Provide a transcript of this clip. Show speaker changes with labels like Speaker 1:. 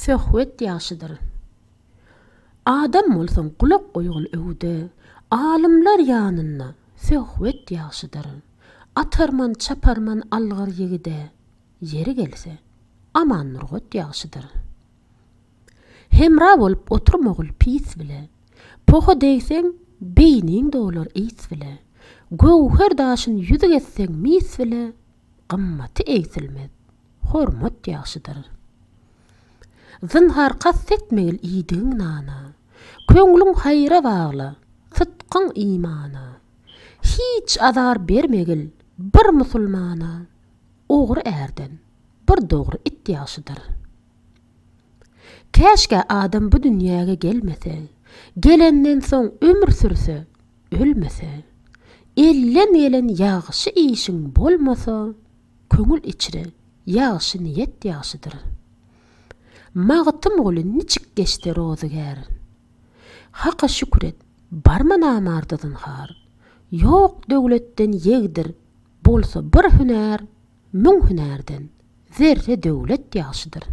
Speaker 1: Söhbet ýagşydyr. Adam bolsaň gulak goýgyn öwüde, Alymlar ýanynda söhbet ýagşydyr. Atarman, çaparman algyr ýigide, Ýeri gelse, Aman Nurgat ýagşydyr. Hemra bolup oturmagul pis bile. Poha degseň, beýniň dolar ys bile. Göwher daşyn ýüzük etseň mis bile, gymmaty egsilmez, hormat ýagşydyr. Zynhar kast etmegil iýdigiň nana. Köňlüň haýra bagla, sytgyň imana. Hiç azar bermegil bir musulmana. Ogry ärden, bir dogry it ýagşydyr. Käşgä adam bu dünýäge gelmese, gelenden soň ömür sürse, ölmese. Elden gelen ýagşy işiň bolmasa, köňül içre ýagşy niýet ýagşydyr. Magtymguly niçik geçse rozygär? Haka şükür et, barmy namarda zynhar. Ýok döwletden ýegdir, bolsa bir hünär. Müň hünärden zerre döwlet ýagşydyr.